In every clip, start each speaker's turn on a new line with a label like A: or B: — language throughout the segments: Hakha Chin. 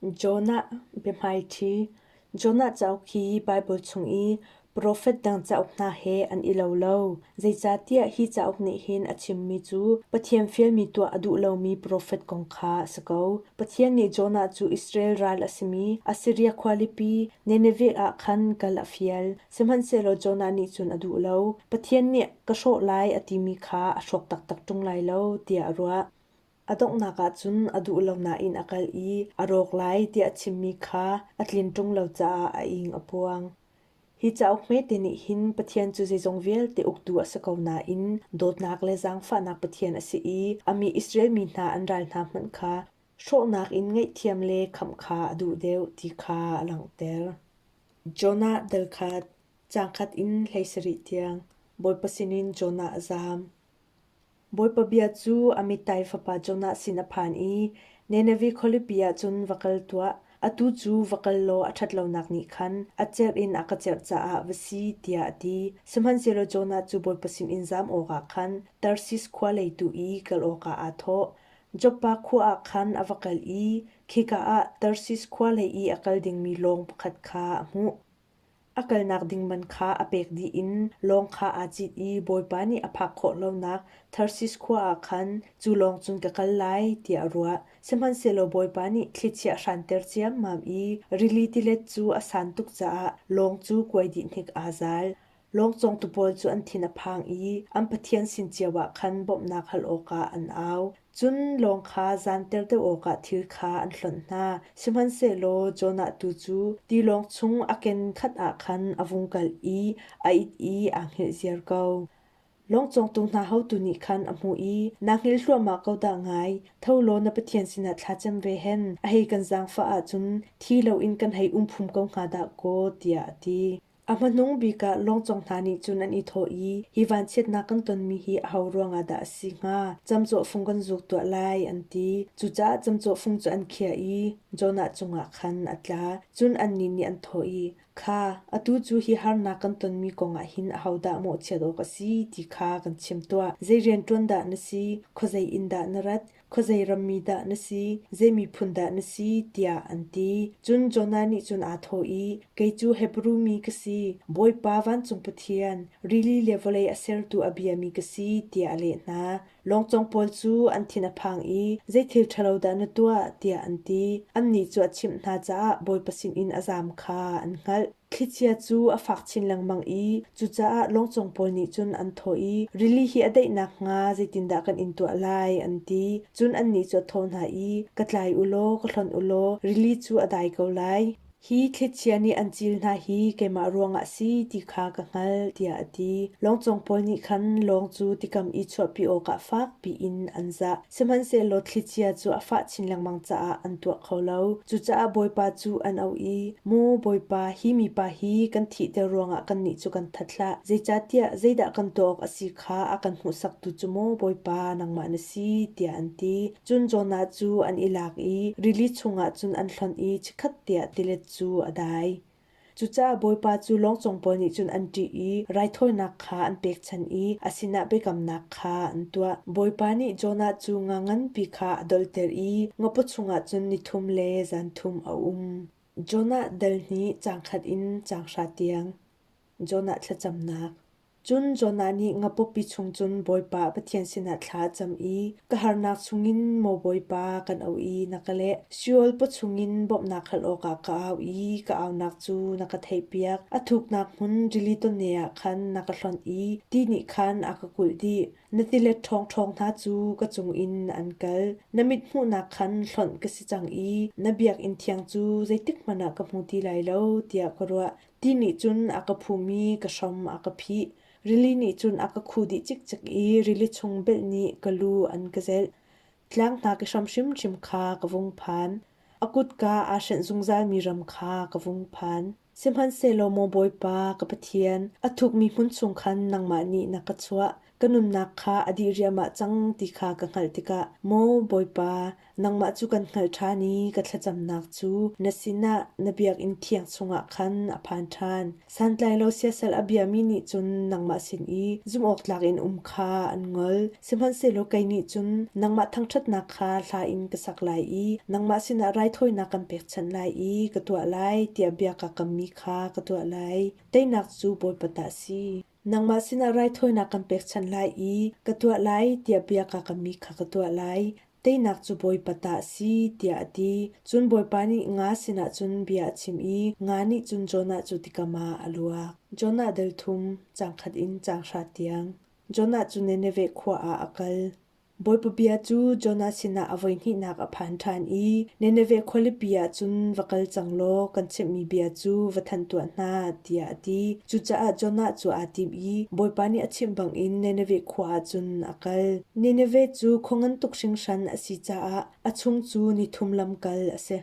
A: Jonah biahmaiṭhi Jonah cauk hi Baibal chung i profet dang cauk hna he an i lo lo. Zeicahtiah hi cauk nih hin a chimmi cu Pathian fialmi tuah a duh lomi profet kong kha a si ko. Pathian nih Jonah cu Israel ral a simi Assiria khualipi Nineveh ah khan kal a fial. Sihmanhsehlaw Jonah nih cun a duh lo. Pathian nih ka hrawh lai a timi kha a hrawk taktak ṭung lai lo tiah a ruah. A donghnak ahcun a duh lo nain a kal i a rawk lai tiah a chimmi kha a tlin ṭung lo caah a ing a puang. Hi cauk hmete nih hin Pathian cu zeizong vialte uktu a si ko nain dawtnak le zaangfahnak Pathian a si i a mi Israel mi hna an ral hna hmanh kha hrawhnak in ngaihthiam le khamh kha a duh deuh ti kha a langhter. Jonah dalkhat Cangkhat in hlei sarih tiang Bawipa sinin Jonah a zaam. Bawipa bia cu a mitai fapa Jonah sin a phan i, Nineveh khualipi ah cun va kal tuah, atu cu va kal law a ṭhat lonak nih khan a cerh in a ka cerh caah va si, tiah a ti. Sihmanhsehlaw Jonah cu Bawipa sinin zam awkah khan Tarshish khua lei tu i kal awkah aa thawh. Joppa khua ah khan a va kal i khika ah Tarshish khua lei i a kal dingmi lawng pakhat kha a hmuh. A kalnak ding man kha a pek dih in lawng kha aa cit i Bawipa nih a phak khawh lonak Tharsis khua ah khan cu lawng cun ka kal lai tiah a ruah. Sihmanhsehlaw Bawipa nih thlichia a hranter ciammam i rili tilet cu a san tuk caah lawng cu kuai dih hnik aa zal. Lawng cawngtu pawl cu an thin a phang i an pathian sin cio ah khan bawmhnak hal awkah an au. Cun lawng kha zanter deuh awkah thil kha an hlonh hna. Sihmanhsehlaw Jonah tu cu tilawng chung a ken khat ah khan a vung kal i a it i aa hngilh ziar ko. Lawng cawngtu hna hotu nih khan a hmuh i, Naa hngil hluahmah ko dah ngai! Tho law na pathian sinah thlacam ve hen. A hei kan zaangfah ahcun thi loin kan hei um phum ko hnga dah kaw, tiah a ti. A hmanung bik ah lawngcong hna nih cun an i thawh i, hi vanchiatnak kan tonmi hi aho ruangah dah a si hnga? Camcawhfung kan zuk tuah lai, an ti. Cucaah camcawhfung cu an khiah i Jonah cungah khan a tla. Cun annih nih an thawh i, Kha, atu cu hi harnak kan tonmi kongah hin ahodah mawhchiat awk a si ti kha kan chim tuah. Zei rian ṭuan dah na si? Khuazei in dah na rat? khuazei ram mi dah na si, zei miphun dah na si tiah an ti. Cun Jonah nih cun aa thawh i, Kei cu Hebru mi ka si, Bawipa vancung Pathian, rili le vawlei a sertu a biami ka si, tiah a leh hna. Lawngcong pawl cu an thin a phang i, Zei thil ṭhalo dah na tuah? tiah an ti. Annih cu a chimh hna caah Bawipa sinin a zaam kha an hngalh. Thlichia cu a fak chin lengmang i cucaah lawngcung pawl nih cun an thawh i rili hi a daih nakhnga zeitindah kan in tuah lai an ti. Cun annih cu a thawh hna i, Ka tlai u law ka hlonh u law rili cu a dai ko lai. Hi thlichia nih an cil hna hi keimah ruangah si ti kha ka hngalh, tiah a ti. Lawngcung pawl nih khan lawng cu tikam i chuahpi awkah fakpi in an zah. Sihmanhsehlaw thlicia cu a fah chin lengmang caah an tuah kho lo. Cucaah Bawipa cu an auh i, Maw Bawipa, hi mipa hi kan thihter ruangah kannih cu kan that hlah. Zeicahtiah zeidah kan tuah awk a si kha a kan hmuhsaktu cu maw Bawipa nangmah na si, tiah an ti. Cun Jonah cu an i lak i rili chungah cun an hlonh i chikhat tiah tilet cu a dai. Cucaah Bawipa cu lawngcung pawl nih cun an ṭih i raithawinak kha an pekchanh i a sinah biakamnak kha an tuah. Bawipa nih Jonah cu nga nganpi kha a dolter i ngapo chungah cun ni thum le zan thum a um. Jonah dal hnih cang khat in cang hra tiang. Jonah thlacamnak Cun Jonah nih ngapupi chung cun Bawipa Pathian sinah thla a cam i ka harnak chungin maw Bawipa kan auh i na ka leh, Sheol paw chungin bawmhnak hal awkah ka au i ka aunak cu na ka theihpiak. A thuknak hmun rili tonne ah khan na ka hlonh i ti nih khan a ka kulh dih. Na tilet ṭhawngṭhawng hna cu ka cungin an kal. Na mithmuhnak khan hlonh ka si cang i na biakinn thiang cu zeitikhmanh ah ka hmu ti lai lo, tiah ka ruah. Ti nih cun a ka phum i ka hrom a ka phih. Rili nih cun a ka khuh dih cikcek i rili chung belh nih ka lu an ka zelh. Tlang hna ka hram hrimhrim kha ka vung phan. A kutka aa hrenh zungzalmi ram kha ka vung phan. Sihmanhsehlaw maw Bawipa ka Pathian, a thukmi hmun chung khan nangmah nih na ka chuah. Ka nunnak kha a dih riamah cang ti kha ka hngalh tikah, Maw Bawipa, nangmah cu kan hngalh ṭhan i ka thlacamnak cu na sinah na biakinn thiang chungah khan a phan ṭhan. Santlai lo siasal a biami nih cun nangmah sin i zumhawktlak in um kha an ngol. Sihmanhsehlaw kei nih cun nangmah thangṭhatnak kha hla in ka sak lai i nangmah sinah raithawinak kan pekchanh lai i ka tuah lai tiah bia ka kammi kha ka tuah lai. Teinak cu Bawipa ta a si. Nangmah sinah raithawinak kan pekchanh lai i ka tuah lai tiah bia kaa kammi kha ka tuah lai. Teinak cu Bawipa ta a si tiah a ti. Cun Bawipa nih nga sinah cun bia a chim i nga nih cun Jonah cu tikam ah a luak. Jonah delthum, cangkhat in cang hra tiang. Jonah cu Nineveh khua ah a kal. Bawipa bia cu Jonah sinah a voihnihnak a phan ṭhan i Nineveh khualipi ah cun va kal cang law kan chimhmi bia cu va thanh tuah hna, tiah a ti. Cucaah Jonah cu aa tim i Bawipa nih a chimh bangin Nineveh khua ah cun a kal. Nineveh cu khua ngan tuk hringhran a si caah a chung cu ni thum lamkal a si.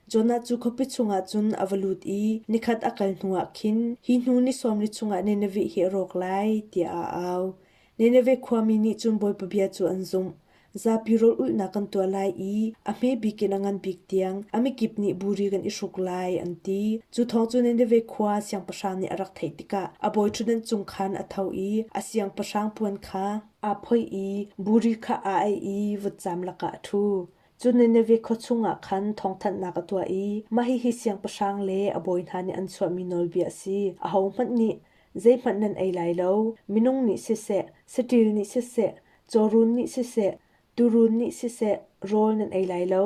A: Jonah cu khuapi chungah cun a va lut i nikhat a kal hnuah khin, hi hnu ni sawm li chungah Nineveh hi a rawk lai, tiah a au. Nineveh khua mi nih cun Bawipa bia cu an zumh. Zapi rawlulhnak kan tuah lai i a hme bik in a ngan bik tiang a mikip nih buri kan i hruk lai, an ti. Cu thawng cu Nineveh khua siangpahrang nih a rak theih tikah a bawiṭhutdenh cung khan a tho i a siangpahrang puan kha aa phoih i buri kha aa aih i vutcam lakah a ṭhu. Cu Nineveh khua chungah khan thawngthanhnak a tuah i mahihi siangpahrang le a bawi hna nih an chuahmi nawlbia a si, ahohmanh nih zeihmanh nan ei lai lo. Minung nih siseh, saṭil nih siseh, cawrun nih siseh, tuurun nih siseh, rawl nan ei lai lo,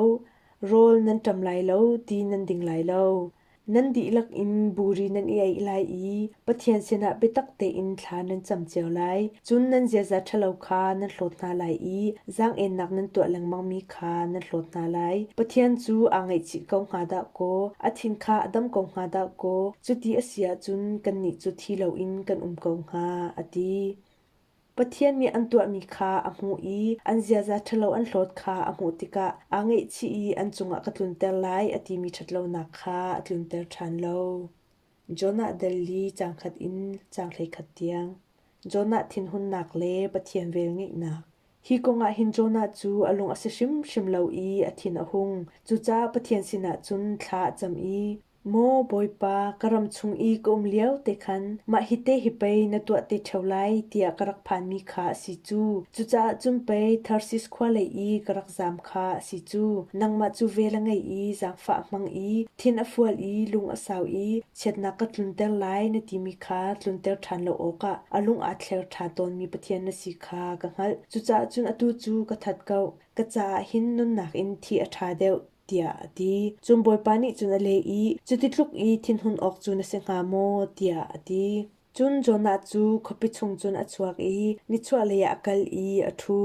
A: rawl nan ṭam lai lo ti nan ding lai lo. Nan dihlak in buri nan i eih lai i Pathian sinah biatak tein thla nan cam cio lai. Cun nan ziaza ṭhalo kha nan hlawt hna lai i zaang-ennak nan tuah lengmangmi kha nan hlawt hna lai. Pathian cu aa ngaihchih ko hnga dah kaw, a thin kha a dam ko hnga dah kaw, cuti a si ahcun kannih cu thi loin kan um ko hnga, a ti. Pathian nih an tuahmi kha a hmuh i an ziaza ṭhalo an hlawt kha a hmuh tikah aa ngaihchih i an cungah ka tlunter lai a timi ṭhatlonak kha a tlunter ṭhan lo. Jonah dal li caangkhat in caang hleikhat tiang. Jonah thinhunnak le Pathian velngeihnak. Hi kongah hin Jonah cu a lung a si hrimhrim lo i a thin a hung. Cucaah Pathian sinah cun thla a cam i Maw Bawipa, ka ram chung i ka um lio te khan mah hi te hi pei na tuah te ṭheo lai tiah ka rak phanmi kha a si cu. Cucaah cun pei Tarsis khua lei i ka rak zaam kha a si cu. Nangmah cu vel a ngei i zaangfah a hmang i thin a fual i lung a sau i chiatnak ka tlunter lai na timi kha tlunter ṭhan lo awkah a lung aa thleng ṭhan tawnmi Pathian na si kha ka hngalh. Cucaah cun atu cu ka that ko, ka caah hin nunnak in thi a ṭha deuh. tiah a ti. Cun Bawipa nih cun a leh i, Cuti tluk i thinhun awk cu na si hnga maw? tiah a ti. Cun Jonah cu khuapi chung cun a chuak i nichuahlei ah a kal i a ṭhu.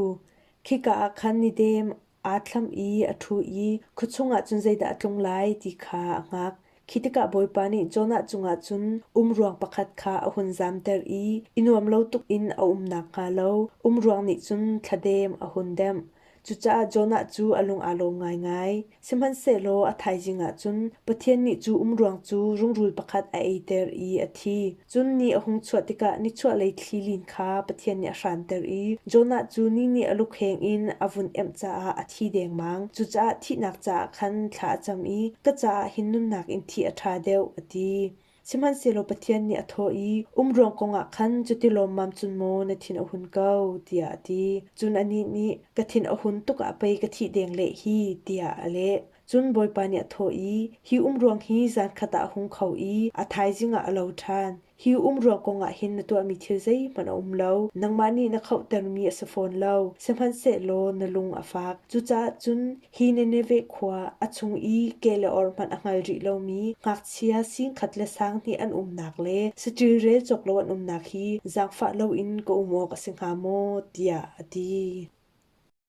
A: Khika ah khan ni dem aa thlam i a ṭhu i khua chungah cun zeidah a tlung lai ti kha a hngak. Khi tikah Bawipa nih Jonah cungah cun umruang pakhat kha a hun zamter i i nuam lo tuk in a um nakhnga lo umruang nih cun thladem a hun demh. Cucaah Jonah cu a lung aa lawm ngaingai. Sihmanhsehlaw a thaizing ah cun Pathian nih cu umruang cu rungrul pakhat a eiter i a thi. Cun ni a hung chuah tikah nichuahlei thlilin kha Pathian nih a hranter i Jonah cu ni nih a lukheng in a vun emh caah a thi dengmang. Cucaah thihnak caah khan thla a cam i ka caah hin nunnak in thih a ṭha deuh, a ti. Sihmanhsehlaw Pathian nih a thawh i, Um ruang kongah khan cuti lawmmam cun maw na thin a hun ko, tiah a ti. Cun anih nih, Ka thin a hun tuk ah pei ka thih deng leh hi, tiah a leh. Cun Bawipa nih a thawh i, Hi umruang hi zankhat ah a hung kho i a thaizing ah a lo ṭhan. Hi umruang kongah hin na tuahmi thil zeihmanh a um lo. Nangmah nih na khauhtermi a si fawn lo, sihmanhsehlaw na lung a fak. Cucaah cun hi Nineveh khua, a chung i ke le or hmanh a hngal rih lomi ngakchia sing khat le sang hnih an umnak le saṭil rel cawk lo an umnak hi zaangfah loin ka um awk a si hnga maw? tiah a ti.